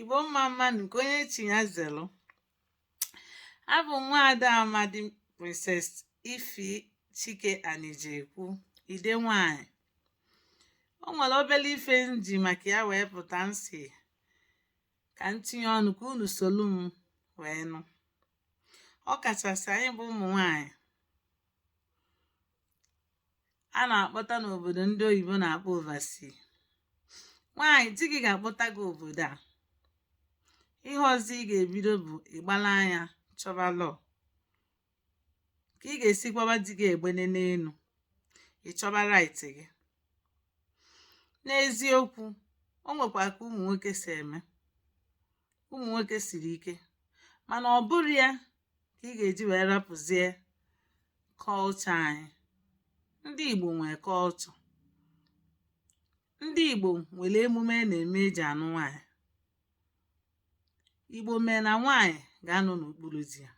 igbo mma mma nke onye chi ya zelu abụ m nwaada amadi princess ify chike anijekwu ide nwanyị o nwere obere ife m ji maka ya wee pụta m sị ka m tinye ọnụ ka unu solu m wee nụ ọ kachasị anyị bụ ụmụ nwanyị a na-akpọta n'obodo ndị oyibo na-akpọ oversea nwaanyị di gị ga-akpọta gị obodo a ihe ọzọ ị ga-ebido bụ ịgbala anya chọba law ka ị ga-esi kwaba di gị egbene n'elu ịchọba right gị n'eziokwu o nwekwa ka ụmụ nwoke si eme ụmụ nwoke siri ike mana ọ bụrọ ya ka ị ga-eji wee rapụzie culture anyị. Ndị Igbo nwe culture. Ndị Igbo nwere emume a na-eme e ji anụ nwaanyị. Igbo mee na nwaanyị ga-anọ n'okpuru di ya.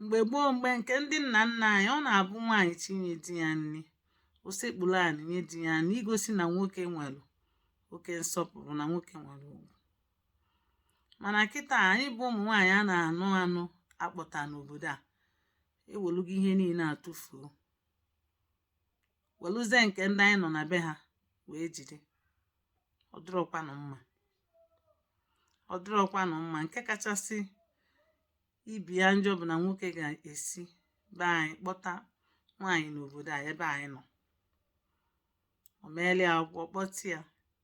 Mgbe gboo mgbe nke ndị nna nna anyị, ọ na-abụ nwaanyị chi nye di ya nri, o sekpuru anị nye di ya nri igosi na nwoke nwere oke nsọpụrụ na nwoke nwere ugwu. mana kịta anyị bụ ụmụ nwaanyị a na-anụ anụ akpọta n'obodo a ewelụgo ihe niile atụfuo welụzie nke ndị anyị nọ na be ha wee jide ọ dịrọkwanụ mma ọ dịrọkwanụ mma nke kachasị ibe ya njọ bụ na nwoke ga-esi be anyị kpọta nwaanyị n'obodo a ebe anyị nọ o meelụ ya akwụkwọ kpọta ya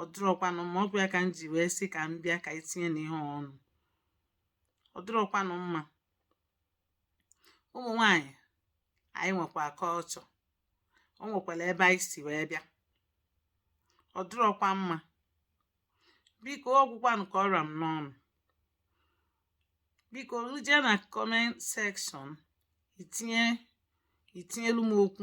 ọ dịrọkwanụ mma ọ kwa ya ka m ji wee sị ka m bịa ka anyị tinyenụ ihe ọnụ ọ dịrọkwanụ mma ụmụ nwanyị anyị nwekwa culture o nwekwara ebe anyị si wee bịa ọ dịrọkwa mma biko ọ gwụkwanụ ka ọ ra m n'ọnụ bikonụ jee na comment section itinye itinyelu m okwu